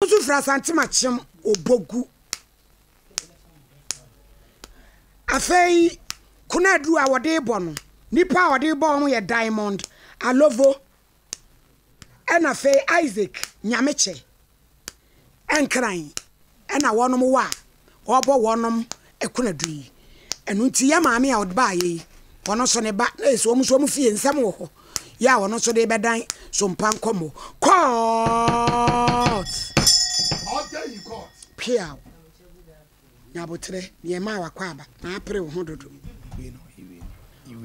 nso firi Asantem Akyem Obogu. Afei kunadu a wɔde bɔ no, nipa a wɔde bɔ wɔn yɛ Diamond Alovo ɛna afei Isaac Nyamekyɛ Nkran ɛna wɔnom wɔ a wɔrebɔ wɔnom akunadu yi. Ɛno nti yɛ maame a ɔde baayɛ yi, ɔno nso ne ba, na ɛsɛ wɔn nso wɔn fie nsɛm wɔ hɔ. Yɛ a ɔno nso de bɛdan sompa nkɔmmɔ. Court! Order in court. Piaw. Nyabotrɛ, deɛ ɛma a wakɔ aba, na apere wo ho dodo.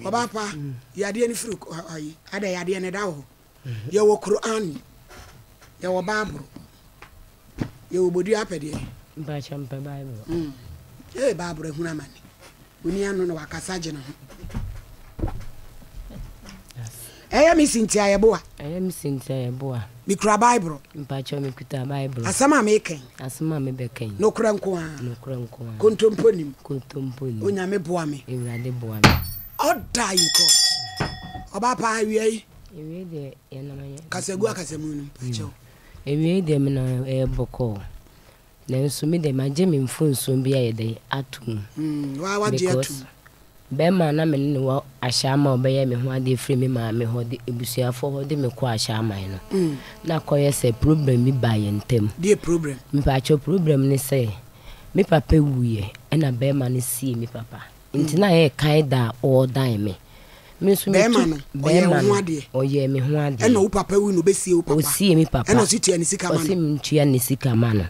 Ɔbaapa, yadeɛ no firi ayi, ada yadeɛ no ɛda wɔ hɔ. Yɛwɔ Qur'aan, yɛwɔ Bible, yɛwɔ bodua apɛdeɛ. Mpakyɛ mpɛ Bible. Mm. Hey, Bible ahunu amane. Oni ano na wakasa gye ne ho. Ɛyɛ me si nti a yɛboa. Ɛyɛ me si nti a yɛboa. Mekura Bible. Mpakyɛ mekuta Bible. Asɛm a mekɛn. Asɛm a mebɛkɛn. Nokorɛ nko ara. Nokorɛ nko ara. Kontompo nim. Kontompo nim. Onyame boa me. Awurade boa me. All die in court. Ɔba paa awia yi. Ewiei deɛ yɛnam yɛ. Kasagu akasamu no akyɛw. Hmm. Ewiei deɛ me na ɛyɛ bɔkɔɔ. Nanso me deɛ magye me mfonsuo bi ayɛ dɛ ato mu. Hmm, waa wagye ato mu. Bɛrima na me ne ne wɔ ahyɛ ama ɔbɛyɛ me ho adeɛ firi me maame hɔ de abusuafoɔ hɔ de me kɔ ahyɛ aman no. Hmm. Na kɔyɛ sɛ problem bi baa yɛn ntam. Deɛ problem. Mpakyɛw problem ne sɛ me papa wuiɛ ɛna bɛrima no sie me papa. Nti na yɛ kae da a ɔɔ dan me. Me nso me tu bɛɛma no ɔyɛ me ho adeɛ. Ɛna wo papa wu no ɔbɛsie wo papa. Ɔsie me papa. Ɛna ɔsi tua ne sika ma no. Ɔsi me ntua ne sika ma no.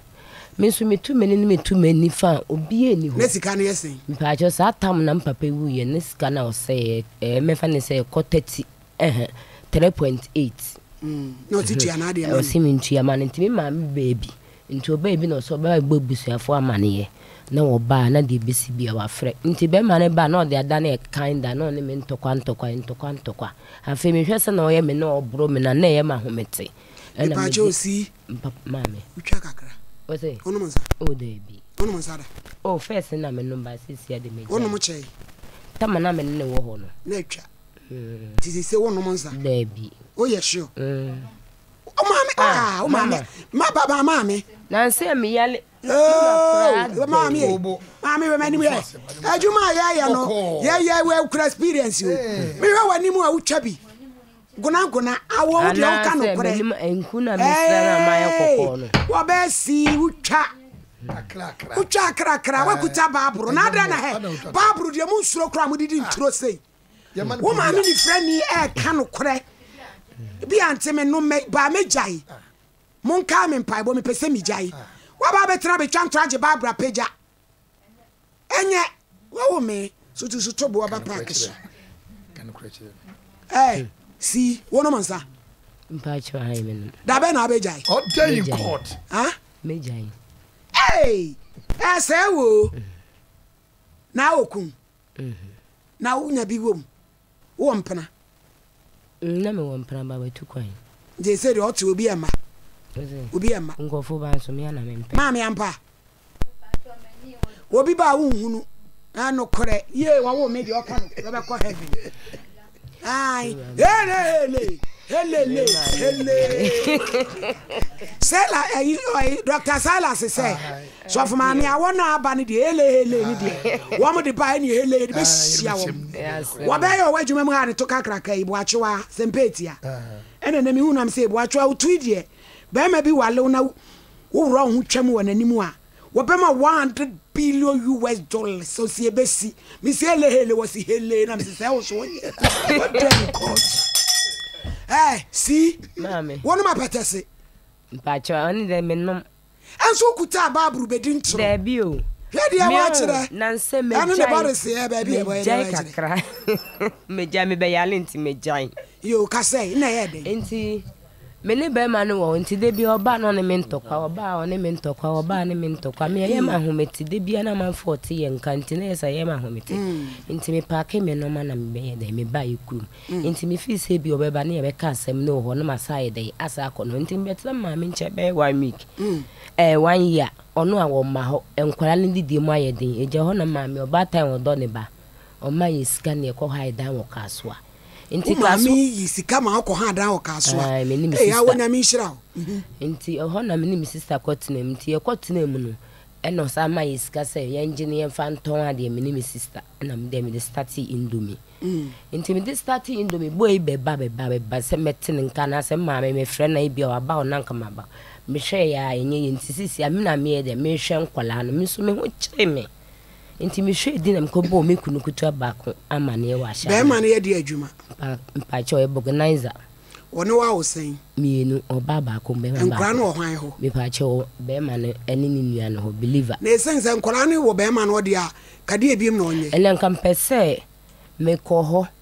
Me nso me tu mene ne me tu mani fa a obiaa ni hɔ. Na sika no yɛ sɛn? Mpaakyɛw saa tam na me papa wui yɛ ne sika na ɔsɛeɛ ɛɛ mɛfa ne sɛ ɛkɔ 30 Ɛhɛn, three point eight. Na ɔte tua n'adeɛ ma no. Ɔsi mi ntua ma no nti mi maame baa bi nti ɔbaa bi na ɔsi ɔbɛ ba bɛ bɔ abusuafoɔ amaneɛ na wɔbaa na deɛ ebesi bia wafrɛ nti bɛɛma no baa na ɔde adane ɛkan da na ɔne me ntɔkwa ntɔkwa ntɔkwa ntɔkwa afei me hwɛ sɛna ɔyɛ me na ɔboro me na na ɛyɛ m'ahomete ɛna me de mpa maame wotwa kakra ɔsɛ ɔnom nsa o daabi ɔnom nsa da o first na me nom ba sisi ade me gya ɔnom kyɛe tama na me ne wɔ hɔ no na atwa Ti sɛ sɛ wonom nsa. Daabi. Woyɛ sure. O maame ah o maame ma baba maame. Nansa mi yale. Maame ye maame wɛ m'anim yɛ adwuma a yɛyɛ no yɛyɛ wɛ kura experience o mehwɛ w'anim a wotwa bi gonagona awɔ wo deɛ woka nokorɛ wɔbɛɛ sii wotwa wotwa akrakra woakuta baaboro na adɛn na hɛ baaboro deɛ mu nsuro koraa modedi nturo sei Wo maame nifirani ɛɛka nokorɛ bi a nti me nom mɛ baa mɛ gyae mo nkaa me mpaebɔ me pɛsɛ me gyae waba abɛtena abɛtwa ntɔ agye Barbara pagya ɛnyɛ wawo me sotu soto boɔ ba paaki so ɛɛ eh, si wo nom nsa mpakyɛ ha yi me nom da bɛ na abɛgyae ɔdɛ in court ha me gyae ɛɛ ɛɛ sɛ wo na okun Na wo nya bi wɔ mu? Wo wɔ mpena? Mm, na me wɔ mpena ba watu kwan. Nti ɛsɛ deɛ ɔte obi ɛmma. Obi ɛmma. Nkɔfo ba nso me ana me mpɛ. Maame ampa. Obi ba a wo nhunu. Ɛnokorɛ. Yie wɔwo me deɛ ɔka no bɛbɛkɔ heaven. Ai, hele, hele, helele, hele. Sela, ɛyi, ɔyi, Dr. Silas sɛ, sɔfo maame a wɔn a aba no deɛ, hele, hele ne deɛ, wɔn de ba ɛne hele de bɛhyia wɔn. Wɔbɛyɛ ɔwɔ adwuma mu ha ne to kakraka yi, boakyewa, sɛmpɛɛtia. Ɛna na mehu nam sɛ, boakyewa, wotui deɛ, bɛrima bi walew na woworɔ wo ho twam wɔ n'anim a, Wɔbɛma one hundred billion US dollars ɔsi ebesi me si hele hele wɔsi hele na me si sɛ ɛwɔ so wɔnyɛ wɔdɛ me court ɛɛ si wɔn ma pɛtɛ se. mpakyɛ ɔne dɛ me nom. ɛnso okuta abaaburu bedi ntoro. daabi o. hwɛ deɛ wɔakyerɛ ɛne ne bɔre se ɛɛ baabi ɛbɔ ɛde wɔakyerɛ. kakra megyae mebɛyale nti megyae. yoo kasɛ na ɛyɛ dɛ. nti Me ne bɛrima no wɔ nti da bi ɔba na ɔne me ntɔkwa, ɔba a ɔne me ntɔkwa, ɔba a ne me ntɔkwa. Me ɛyɛ me ahomete da bi a na amanfoɔ a ɔte yɛ nka nti na ɛyɛ sɛ ɛyɛ me ahomete. Nti me paake me nneɛma na mebɛyɛ dɛn mebaeɛ kurom. Nti me feel sɛ bi ɔbɛba ne yɛbɛka asɛm no wɔ hɔ na masan ayɛ dɛn asan akɔ ne hɔ. Nti mebɛtena me maame nkyɛn bɛyɛ one week ɛɛ one year ɔno a wɔmma hɔ. Nkwadaa no didie mu ayɛ den, ɛgya hɔ na maame ɔbaatan a ɔdɔ ne ba ɔma yɛ sika na yɛkɔ hɔ ayɛ dan wɔ Kasoa. Nti ka so. Wo maame yi sika ma ɔkɔ ha adan wɔ kaa so a. Ayi me ne me sista. Ee awo nyame nhyira o. Mhm. Nti ɛhɔ na me ne me sista kɔ tena mu. Nti yɛkɔ tena mu no, ɛna ɔsan ma yɛ sika sɛ yɛngye na yɛmfa ntɔn adeɛ me ne me sista. Ɛna me deɛ mede startee indomie. Mm. Nti mede startee indomie, boy yi bɛba bɛba bɛba sɛ mɛte ne nka anaasɛ maame mefrɛ na ebi a waba o na nka maba. Mehwɛɛ yɛ a ɛnyɛ yie. Nti sisi a me na meyɛ deɛ mehwɛ nkwadaa no. Me nso me ho kyere me. Nti mehwɛɛ din na mekɔbɔɔ me kunu ketewa baako amanneɛ wɔ ahyɛaseɛ. Bɛrima no yɛ deɛ adwuma? Mpa, mpakyɛ ɔyɛ bɔganiza. Wɔne wo awo sɛn? Mmienu, ɔbaa baako, bɛrima baako. Nkwadaa no wɔ hwan hɔ? Mepakyɛ wɔ bɛrima no ne ne nua no hɔ, believer. Na ɛsiane sɛ nkwadaa no wɔ bɛrima no hɔ deɛ a, ka deɛ ebiem na ɔnyɛ? Ɛnna nka mepɛ sɛ mekɔ hɔ.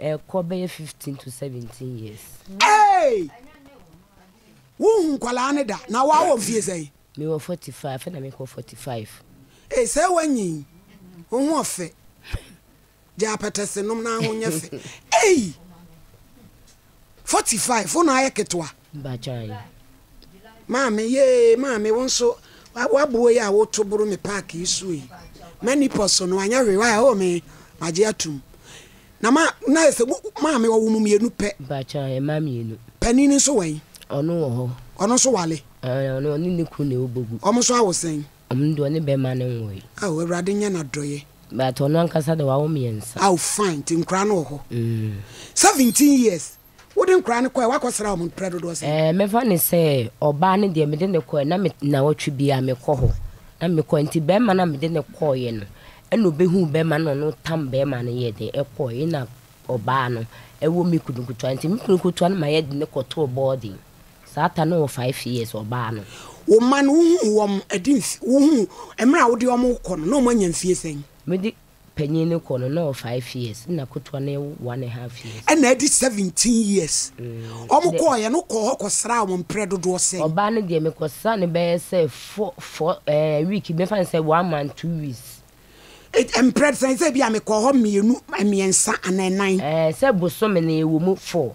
Ɛkɔ bɛyɛ fifteen to seventeen years. Eeii! Wonhu nkwadaa no da? Na woawo mfeɛ sɛn? Mewɔ forty five, afei na mekɔ forty five. Eeii sɛɛ woanyin? Wo ho ɔfɛ. Gya apɛtɛse nom na ho nyɛ fɛ. Eeii! Forty five, wo na ayɛ ketewa. ba gyae. Maame, Yee, maame wo nso w'aboɔ yi a woto boro me park yi soɔ yi, m'ani pɔ so no anyɛ hwee, why oh me magye atom. Na ma, na ayɛ sɛ wo, maame ɔwo mo mmienu pɛ. Ba gyae, mma mmienu. Panin no nso wɛn? Ɔno wɔ hɔ. Ɔno nso wale? Aane, ɔno ɔne ne kunu na ɛwobɔ gu. Wɔn nso awo sɛn? Wɔn deɛ ɔne bɛɛma no nwoe. Ao, Awurade nyɛ n'adɔeɛ. But ɔno ankasa deɛ wawo mmiɛnsa. Ao, fine, nti nkwadaa no wɔ hɔ. Mm. Seventeen years, Wode nkwadaa no kɔɛ, woakɔsra wɔn mprɛ dodoɔ sɛn? Ɛɛ, mɛfa no sɛ ɔbaa no deɛ mede no kɔɛ, na me nnawɔtwe biara mekɔ hɔ. Na mekɔɛ nti barima no a mede no kɔeɛ no, ɛna ɔbɛhuu barima no na ɔno tam barima no yɛɛ dɛn, ɛkɔeɛ. Ɛna ɔbaa no wɔ me kunu nketewa nti me kunu nketewa no ma yɛde no kɔtoo boarding. Saa ta no wɔ five years, ɔbaa no. Wo mma no, wohuu wɔn ɛde mf, wohuu mmerɛ a wode wɔn rekɔ no, na wɔanya mfie sɛn? Mede panyin no kɔ no na ɔwɔ five years nna kotoa no yɛ one and half years. Ɛna adi seventeen years ɔmo kɔɔ yɛ no kɔɔ hɔ kɔ sraa wɔn mprɛ dodoɔ sɛn? Ɔbaa no deɛ me kɔ sraa no bɛyɛ sɛ four four ɛɛ week mɛfa no sɛ one month two weeks. Mprɛ sɛn sɛ ebia me kɔɔ hɔ mmienu mmiɛnsa anaa ɛnan? Ɛɛ sɛ bosome no yɛ wɔ mu four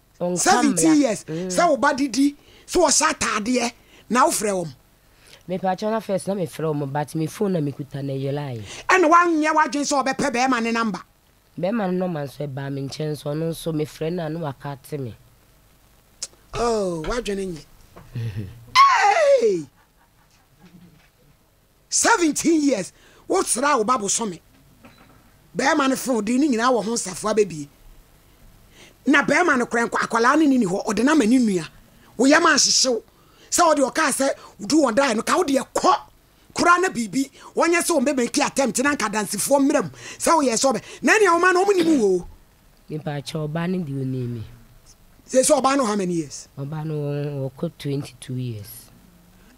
17 years sɛ wo ba de di sɛ ɔhyɛ ataadeɛ na wo frɛ wɔn. Mepakyɛw na first na me frɛ wɔn but me phone na me kuta na ɛyɛlae. Ɛna wanyɛ w'adwene sɛ ɔbɛpɛ bɛɛma ne number. Bɛɛma no nɔma nso ɛbaa me nkyɛn nso ɔno nso me frɛ no a na wakate me. Oh w'adwene nyɛ. Eeii. Seventeen years wo sraa wo ba bosome bɛɛma no fee ɔdee ne nyinaa wɔ ho nsafoa bɛbie na bɛɛma no korɛ akwadaa no nini hɔ ɔde no ama ne nua wo yam anhyehyew sɛ ɔde ɔkaa sɛ wodu wɔn daeɛ no ka wo deɛ kɔ kora na biribi wɔnyɛ sɛ wɔn bɛbɛki attempt na nka dansifoɔ mmerɛ mu sɛ woyɛ sɛ ɔbɛ na ɛnea wɔma no wɔn nim wɔ o. Nipa kyɛ ɔba no deɛ ɔnim me. Sɛ sɛ ɔba no how many years. Ɔba no ɔkɔ twenty two years.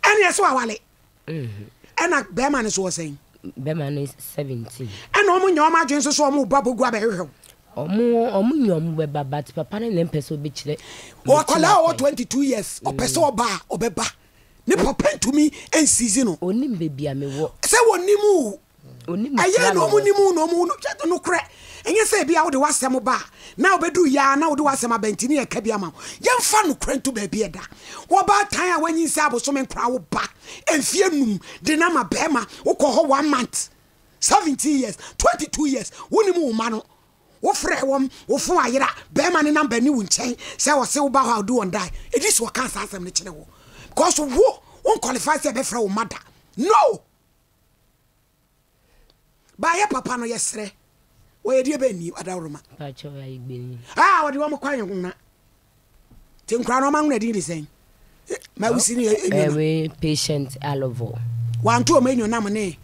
Ɛnea sɛ wawale. Ɛna bɛrima no so wɔ sɛn? Bɛrima no seventeen. Ɛna wɔn nyɛ wɔn adwene nso so wɔn ba bɛgu abɛhwehwɛ wo. Wɔn wɔn nyɛ wɔn bɛba but papa no na mpɛ sɛ ɔbɛkyerɛ. Ɔkwadaa ɔwɔ twenty two years ɔpɛ sɛ ɔba a ɔbɛba ne papa ntumi nsizi no. Ɔnim baabi a mewɔ. Sɛ wɔnim o ɛyɛ na wɔn nim na wɔn no twɛ de no korɛ ɛnyɛ sɛ ebi a wode w'asɛm ba a na wobɛdu yɛ a na wode w'asɛm abɛntini yɛ ka bi ama wo yɛmfa no korɛ nto baabi ɛda wɔbaa tan a wanyin sɛ abosome nkora wo ba mfie num de no ama bɛrima wokɔ hɔ one month seventeen years twenty two years wonim wo ma no wofrɛ wɔm wofo ayera bɛrima ne namba ni wo nkyɛn sɛ wɔse woba hɔ a wode wɔn dae ɛdi sɛ wɔka saa asɛm no kyerɛ wo because wo wonkɔlifa sɛ ɛbɛfrɛ wo mada no Ba yɛ papa no yɛ serɛ. Wɔ yɛ deɛ bɛ nni adaworoma. Ba kyɛ wɔ ayɛ gbenyin. Ah wɔde wɔn kwan yɛ ho na. Te nkura na wɔn anwona din de sɛn. Ma wusi ne yɛ enyonam. Ɛwe patient alovo. Wanto wɔn enyonam ne.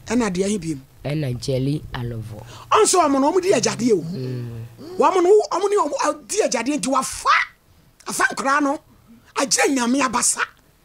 Ɛna deɛ he biem. Ɛna jelly alovo. Ɔnso wɔn no wɔn di agyadeɛ o. Wɔn no wɔn ne wɔn di agyadeɛ nti wafa afa nkura no agyina nyame abasa.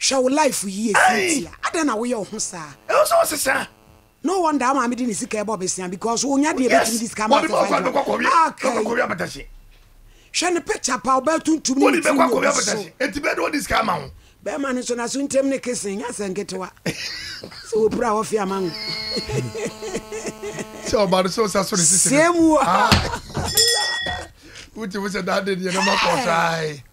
Hwɛ wo life yie Cynthia adɛn na woyɛ wo ho saa. Ɛwɔ sɛ ɔsesa. No wonder wo maame de ne sika ɛbɔ besia because wo nya deɛ ɛbɛtumi de sika ama ase fa adwuma okay hwɛ ne picture pa ɔbaa tuntum ne ne tiri ne obi so eti bɛɛ de ɔde sika ama ho bɛrima no nso na so ntɛm ne kesen nya sɛ nketewa sɛ wɔpira wɔfe ama no sɛ ɔba no sɛ ɔsa so ne sisi sɛ mu wotumi sɛ daade deɛ no makɔ so ae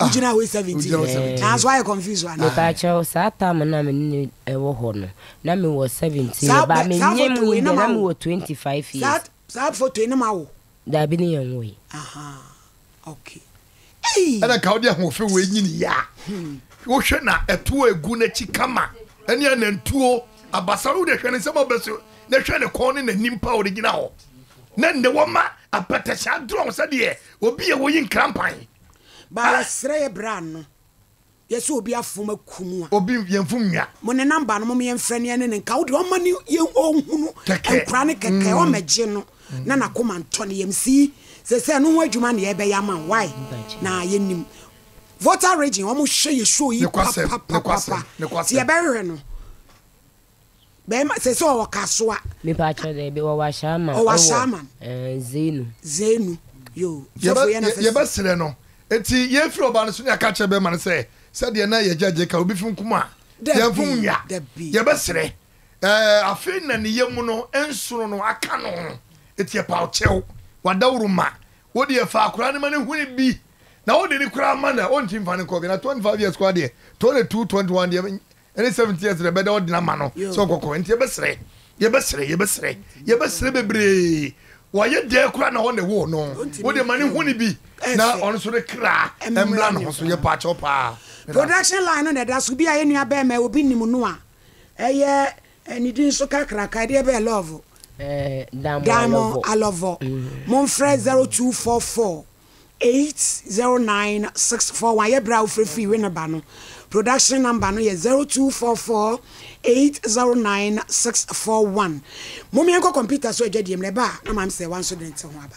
Ah, wogyina wei seventeen wogyina wei seventeen. nanso ayɛ confuse wa na. Mepakyɛw saa tam na me ne no wɔ hɔ no na me wɔ seventeen Saa- ba me saa nyɛ photo mu wei na deɛ ma na me wo. wɔ twenty five saa years saa foto yi ne ma wo daabi ne yɛn wɔ yi aha okay ei ɛna nka wode ahoɔfɛ wei nyini yɛ a wohwɛ na ɛtoɔ egu n'akyi kama ɛne anantuo abasa no wode hwɛ ne nsɛm ɔbɛ so na hwɛ ne kɔn ne n'anim pa a ɔde gyina hɔ na nnɛ wɔma apɛtɛhyɛ adorɔn sɛdeɛ obi a wɔyi nkrampan Ba yɛsrɛ yɛ bra no yɛ sɛ obi afom aku mu a. Obi yɛ nfom nwa. Mo ne number no mom yɛ nfrɛ no yɛ ne ne nka wo deɛ ɔma ne yɛ ɔhunu nkura no kɛkɛ ɔmɛ gye no na na koma ntɔ ne yɛm si sɛsɛ no ho adwuma na yɛ bɛ yɛ ama why na yɛ nim Volta region ɔmo hwɛ yɛ show yi papapapapa ti yɛ bɛ hwɛ no. Bɛɛma sɛ sɛ ɔwɔ kasoa. Me pa kyɛw dɛ bi ɔwɔ ahyɛama. Ɔwɔ ahyɛama. Ɛɛ zeenu. Zeenu yoo. Sɔfo yɛ na fɛ. Yɛ bɛ srɛ no eti yɛ firi ɔbaa no so ne aka kyerɛ bɛɛma no sɛ sɛ deɛ na yɛ gya gye ka obi fi nkum a yɛ nfo nwia yɛ bɛ srɛ ɛɛ afe na ne yɛ mu no nsono no aka no ho eti yɛ paw kyɛw wa daworo ma wo deɛ fa akora ne ma ne huni bi na wo de ne kora ma na ɔnti nfa ne nkɔ gana twenty five years kora deɛ twenty two twenty one deɛ. Ɛne seventh years na ɛbɛda ɔden ama no sɛ ɔkɔkɔ nti yɛbɛsrɛ yɛbɛsrɛ yɛbɛsrɛ yɛbɛsrɛ bebree wɔayɛ dɛɛ koraa na ɔne woo no wode ma ne hu ne bi na ɔno so ne kra ɛmmra ne ho so yɛ paakyɛw paa production line no na ɛda so bi a yɛ nua bɛɛma obi nnim no a ɛyɛ ne din so kakraka ɛdeɛ bɛɛ love Damo Alɔvɔ momfrɛ 0244 eight zero nine six four one yɛ berɛ a wofrɛ firi Winneba no production number no yɛ zero two four four eight zero nine six four one mom yɛnkɔ computer so adwadie mu na ɛba a na maame sɛ wanso de ne ti ho aba.